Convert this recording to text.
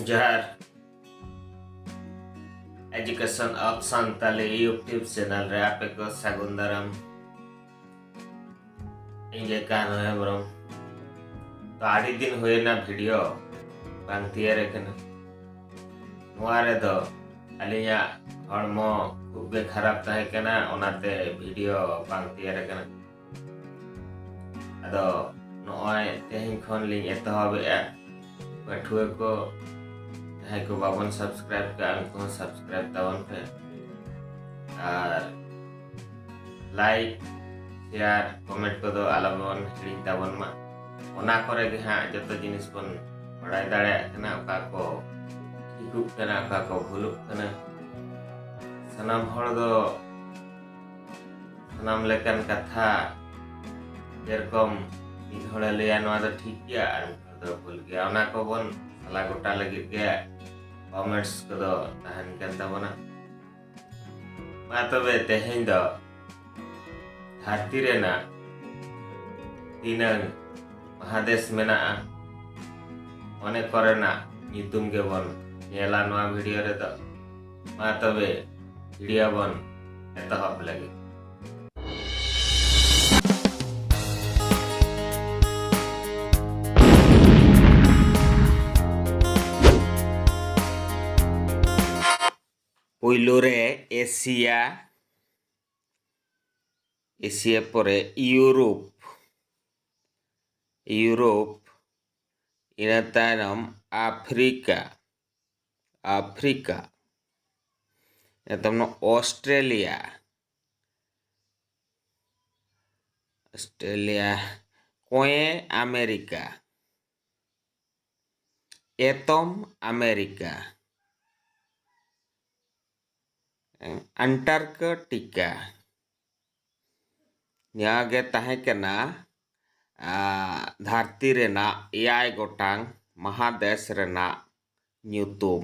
ᱡᱚᱦᱟᱨ education of Santali YouTube channel ᱨᱮ ᱟᱯᱮ ᱠᱚ ᱥᱟᱹᱜᱩᱱ ᱫᱟᱨᱟᱢ ᱤᱧ ᱜᱮ ᱠᱟᱱᱩ ᱦᱮᱢᱵᱨᱚᱢ ᱛᱚ ᱟᱹᱰᱤ ᱫᱤᱱ ᱦᱩᱭᱮᱱᱟ ᱵᱷᱤᱰᱤᱭᱳ ᱵᱟᱝ ᱛᱮᱭᱟᱨ ᱟᱠᱟᱱᱟ ᱱᱚᱣᱟ ᱨᱮᱫᱚ ᱟᱹᱞᱤᱧᱟᱜ ᱦᱚᱲᱢᱚ ᱠᱷᱩᱵ ᱜᱮ ᱠᱷᱟᱨᱟᱯ ᱛᱟᱦᱮᱸ ᱠᱟᱱᱟ ᱚᱱᱟᱛᱮ ᱵᱷᱤᱰᱤᱭᱳ ᱵᱟᱝ ᱛᱮᱭᱟᱨ ᱟᱠᱟᱱᱟ ᱟᱫᱚ ᱱᱚᱜᱼᱚᱭ ᱛᱮᱦᱮᱧ ᱠᱷᱚᱱ ᱞᱤᱧ ᱮᱛᱚᱦᱚᱵᱮᱜᱼᱟ ᱯᱟᱹᱴᱷᱩᱣᱟᱹ ᱠᱚ ᱡᱟᱦᱟᱸᱭ ᱠᱚ ᱵᱟᱵᱚᱱ ᱥᱟᱵᱥᱠᱨᱟᱭᱤᱵ ᱠᱟᱜᱼᱟ ᱩᱱᱠᱩ ᱦᱚᱸ ᱥᱟᱵᱥᱠᱨᱟᱭᱤᱵ ᱛᱟᱵᱚᱱ ᱯᱮ ᱟᱨ ᱞᱟᱭᱤᱠ ᱥᱮᱭᱟᱨ ᱠᱚᱢᱮᱱᱴ ᱠᱚᱫᱚ ᱟᱞᱚᱵᱚᱱ ᱦᱤᱲᱤᱧ ᱛᱟᱵᱚᱱ ᱢᱟ ᱚᱱᱟ ᱠᱚᱨᱮ ᱜᱮ ᱦᱟᱸᱜ ᱡᱚᱛᱚ ᱡᱤᱱᱤᱥ ᱵᱚᱱ ᱵᱟᱲᱟᱭ ᱫᱟᱲᱮᱭᱟᱜ ᱠᱟᱱᱟ ᱚᱠᱟ ᱠᱚ ᱴᱷᱤᱠᱚᱜ ᱠᱟᱱᱟ ᱚᱠᱟ ᱠᱚ ᱵᱷᱩᱞᱚᱜ ᱠᱟᱱᱟ ᱥᱟᱱᱟᱢ ᱦᱚᱲ ᱫᱚ ᱥᱟᱱᱟᱢ ᱞᱮᱠᱟᱱ ᱠᱟᱛᱷᱟ ᱡᱮᱨᱚᱠᱚᱢ ᱢᱤᱫ ᱦᱚᱲᱮ ᱞᱟᱹᱭᱟ ᱱᱚᱣᱟ ᱫᱚ ᱴᱷᱤᱠ ᱜᱮᱭᱟ ᱟᱨ ᱢᱤᱫ ᱦᱚᱲ ᱫᱚ ᱵᱷᱩᱞ ᱜᱮᱭᱟ ᱚᱱᱟ ᱠᱚᱵᱚᱱ ᱥᱟᱞᱟ ᱜᱚᱴᱟ ᱞᱟᱹᱜᱤᱫ ᱜᱮ ᱠᱚᱢᱮᱱᱴᱥ ᱠᱚᱫᱚ ᱛᱟᱦᱮᱱ ᱠᱟᱱ ᱛᱟᱵᱚᱱᱟ ᱢᱟ ᱛᱚᱵᱮ ᱛᱮᱦᱮᱧ ᱫᱚ ᱫᱷᱟᱹᱨᱛᱤ ᱨᱮᱱᱟᱜ ᱛᱤᱱᱟᱹᱝ ᱢᱟᱦᱟᱫᱮᱥ ᱢᱮᱱᱟᱜᱼᱟ ᱚᱱᱮ ᱠᱚᱨᱮᱱᱟᱜ ᱧᱩᱛᱩᱢ ᱜᱮᱵᱚᱱ ᱧᱮᱞᱟ ᱱᱚᱣᱟ ᱵᱷᱤᱰᱤᱭᱳ ᱨᱮᱫᱚ ᱢᱟ ᱛᱚᱵᱮ ᱵᱷᱤᱰᱤᱭᱳ ᱵᱚᱱ ᱮᱛᱚᱦᱚᱵ ᱞᱟᱹᱜᱤᱫ ᱯᱩᱭᱞᱩ ᱨᱮ ᱮᱥᱤᱭᱟ ᱮᱥᱤᱭᱟ ᱯᱚᱨᱮ ᱤᱭᱩᱨᱳᱯ ᱤᱭᱩᱨᱳᱯ ᱤᱱᱟᱹ ᱛᱟᱭᱱᱚᱢ ᱟᱯᱷᱨᱤᱠᱟ ᱟᱯᱷᱨᱤᱠᱟ ᱮᱛᱚᱢ ᱱᱚᱣᱟ ᱚᱥᱴᱨᱮᱞᱤᱭᱟ ᱚᱥᱴᱨᱮᱞᱤᱭᱟ ᱠᱚᱸᱭᱮ ᱟᱢᱮᱨᱤᱠᱟ ᱮᱛᱚᱢ ᱟᱢᱮᱨᱤᱠᱟ ᱟᱱᱴᱟᱨᱠᱚᱴᱤᱠᱟ ᱱᱚᱣᱟ ᱜᱮ ᱛᱟᱦᱮᱸ ᱠᱟᱱᱟ ᱫᱷᱟᱹᱨᱛᱤ ᱨᱮᱱᱟᱜ ᱮᱭᱟᱭ ᱜᱚᱴᱟᱝ ᱢᱟᱦᱟᱫᱮᱥ ᱨᱮᱱᱟᱜ ᱧᱩᱛᱩᱢ